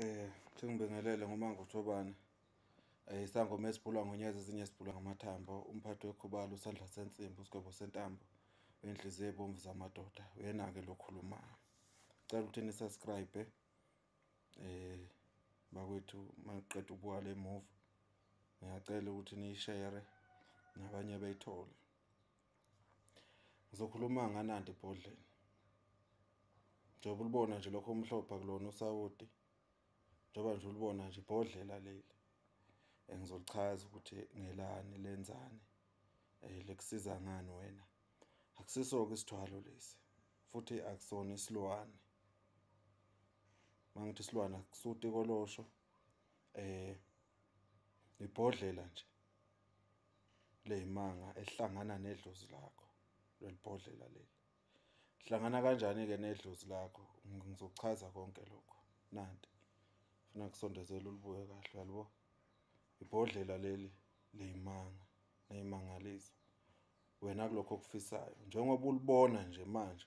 Eh, thingibingelele ngomango Thobane. Eh, isangoma esibhulwa ngonyeza ezinye sibhulwa ngamathambo, umphathi wekhubalo usandla sensimbi usigwebo sentambo. Wenhliziyo ebomvu zamadoda, uyena ke lokhulumayo. Cela ukuthi ni subscribe eh bakwethu maqeda ubuwala emuva. Ngiyacela ukuthi ni share nabanye bayithole. Ngizokhuluma nganandi ibhodleni. Njengoba ulibona nje lokho omhlophe akulona usawoti. Njengoba nje ulibona nje ibhodlela leli. Engizolichaza ukuthi ngelani lenzani. Eh lekusiza ngani wena? Akusiso ke isithwalo lesi. Futhi akusona isilwane. Mangithi isilwane akusuti kolosho. Eh ibhodlela nje. leyimanga ehlangana nedlozi lakho lelibhodlela leli hlangana kanjani ke nedlozi lakho ngizochaza konke lokho nanti funa kusondezela ulibuye kahle yalibo ibhodlela leli leyimanga neyimangaliso wena kulokho okufisayo njengoba ulibona nje manje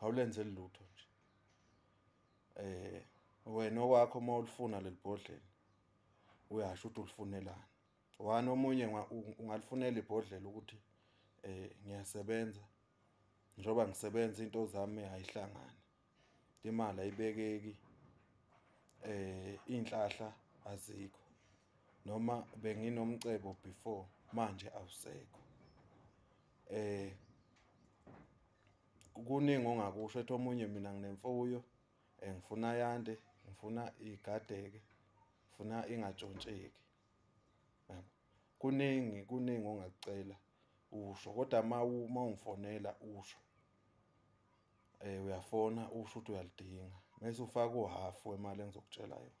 awulenze lutho nje eh wena okwakho uma ulifuna lelibhodlela uyasho ukuthi ulifunelani wani omunye ungalifunela ibhodlela ukuthi eh ngiyasebenza njoba ngisebenza into zami ayihlangani imali ayibekeki eh inhlahla azikho noma benginomcebo before manje awusekho eh kuningi ongakusho ethi omunye mina nginemfuyo eh, ngifuna yande ngifuna igadeke ngifuna ingatshontsheki kuningi kuningi ongakucela usho kodwa uma uma ungifonela usho eh uyafona usho ukuthi uyalidinga mase ufaka uhalf wemali engizokutshela yona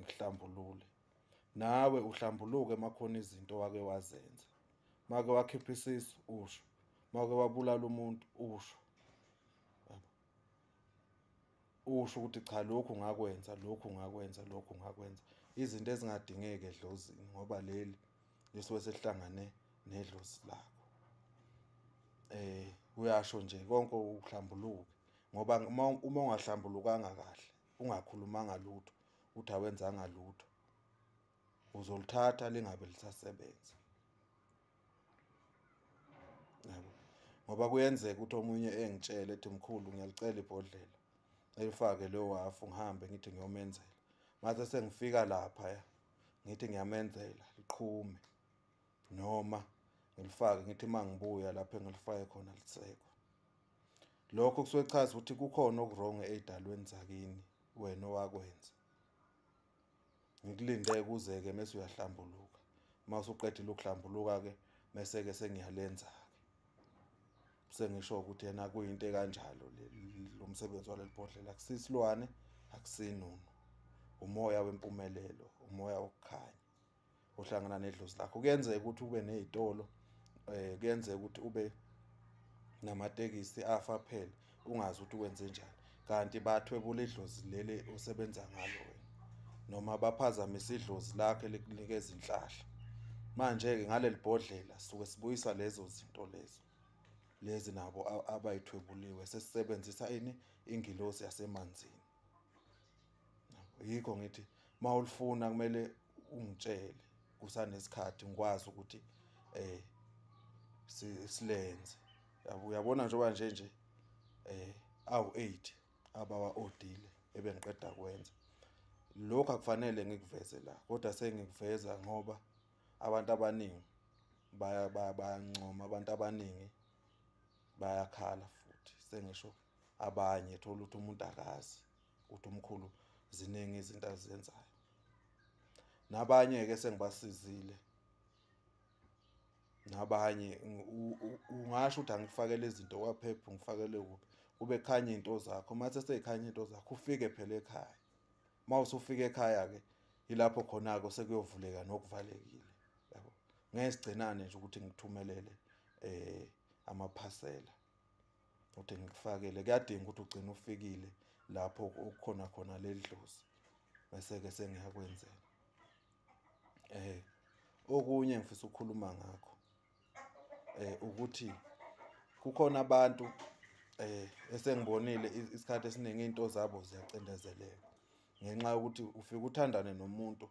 ngikuhlambulule nawe uhlambuluke makhona izinto wake wazenza make wakhipha isisu usho make wabulala umuntu usho usho ukuthi cha lokhu ngakwenza lokhu ngakwenza lokhu ngakwenza izinto ezingadingeke edlozini ngoba leli lisuke selihlangane nedlozi lakho eh uyasho nje konke ukuhlambuluka ngoba uma ungahlambulukanga kahle ungakhulumanga lutho uthi awenzanga lutho uzolithatha lingabe lisasebenza yabo ngoba kuyenzeka ukuthi omunye engitshele ethi mkhulu ngiyalicela ibhodlela elifake leyo wafu ngihambe ngithi ngiyomenzela mase sengifika lapha ya ngithi ngiyamenzela liqhume noma ngilifake ngithi uma ngibuya lapho engilifake khona lisekho lokho kusuke kuchaza ukuthi kukhona okuwrong ey'dalweni zakini wena owakwenza ngikulinde kuze-ke mese uyahlambuluka uma usuqedile ukuhlambuluka-ke mese-ke sengiyalenza-ke sengisho ukuthi yena kuyinto ekanjalo lo msebenzi waleli bhodlela akusisilwane akusinunu umoya wempumelelo umoya wokukhanya uhlangana nedlozi lakho kuyenzeka ukuthi ube nezitolo eh kuyenzeka ukuthi ube namatekisi afa phela ungazi ukuthi wenze njani kanti bathwebula idlozi leli usebenza ngalo wena noma baphazamise idlozi lakhe likunika izinhlahla manje ke ngaleli bhodlela suke sibuyisa lezo zinto lezo lezi nabo abayithwebuliwe sesisebenzisa ini ingilosi yasemanzini yikho ngithi mawulifuna kumele ungitshele kusanesikhathi ngikwazi ukuthi eh silenze yabo uyabona njengoba nje nje eh awu 8 abawa odile ebengiqeda kwenza lokho akufanele ngikuveze la kodwa sengikuveza ngoba abantu abaningi baya bayancoma abantu abaningi bayakhala futhi sengisho abanye thola ukuthi umuntu akazi ukuthi umkhulu ziningi izinto azenzayo nabanye ke sengibasizile nabanye ungasho ukuthi angifakele izinto kwaphepha ngifakele kuphi kube khanye into zakho mathe seyikhanye into zakho ufike phela ekhaya mawusufika ekhaya ke ilapho khona ke sekuyovuleka nokuvalekile yabo ngesigcinane nje ukuthi ngithumelele eh amaphasela uthi ngikufakele kuyadinga ukuthi ugcine ufikile lapho okukhona khona leli dlozi bese-ke sengiyakwenzela eh okunye ngifisa ukukhuluma ngakho eh ukuthi kukhona abantu eh esengibonile isikhathi esiningi into zabo ziyacindezeleka ngenxa yokuthi ufika uthandane nomuntu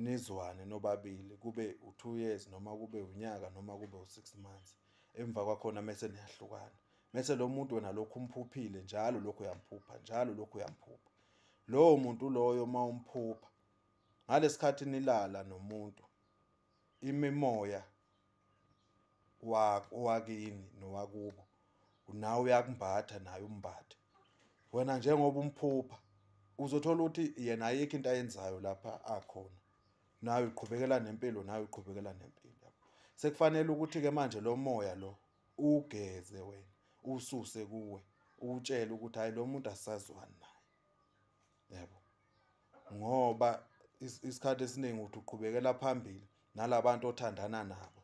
nizwane nobabili kube u-two years noma kube unyaka noma kube u-six months emva kwakhona mese niyahlukana mese lo muntu wena lokhu umphuphile njalo lokhu uyamphupha njalo lokhu uyamphupha lowo muntu loyo uma umphupha ngalesikhathi nilala nomuntu imimoya owakini nowakubo nawe uyakumbatha naye umbathe wena njengoba umphupha uzothola ukuthi yena ayikho into ayenzayo lapha akhona nawe uqhubekela nempilo nawe uqhubekela nempilo sekufanele ukuthi ke manje lo moya lo ugeze wena ususe kuwe utshele ukuthi hayi lo muntu asazwani naye yebo ngoba isikhathi esiningi uthi uqhubekela phambili nalabantu othandana nabo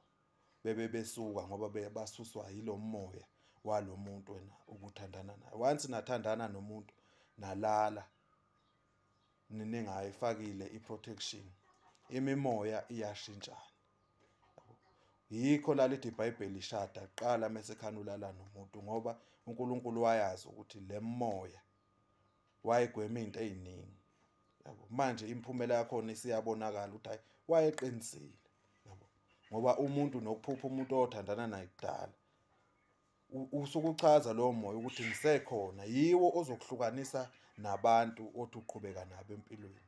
bebe besuka ngoba bebasuswa yilomoya walomuntu wena ukuthandana naye once nathandana nomuntu nalala niningayifakile iprotection imimoya iyashintshana yikho lalithi ibhayibheli ishada qala mesekhanulala nomuntu ngoba uNkulunkulu wayazi ukuthi lemoya wayegwema into eziningi yabo manje imphumela yakhona isiyabonakala ukuthi hayi wayeqinisile yabo ngoba umuntu nokuphupha umuntu othandana naye kudala usukuchaza lowo moya ukuthi ngisekhona yiwo ozokuhlukanisa nabantu othi uqhubeka nabo empilweni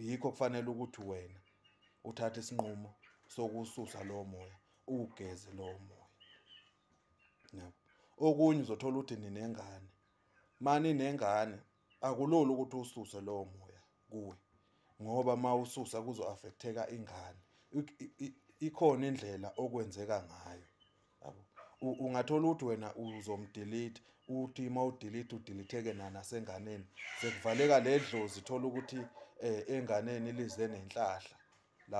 yikho kufanele ukuthi wena uthathe isinqumo sokususa lowo moya uwugeze lowo moya yabo okunye uzothola ukuthi ninengane mani nengane akulula ukuthi ususe lowo moya kuwe ngoba uma ususa kuzo-afektheka ingane ikhona indlela okwenzeka ngayo yabo ungathola ukuthi wena uzomdelete uthi uma udelete udeletheke nanasenganeni sekuvaleka le dlozi thola ukuthi um enganeni lize nenhlahla la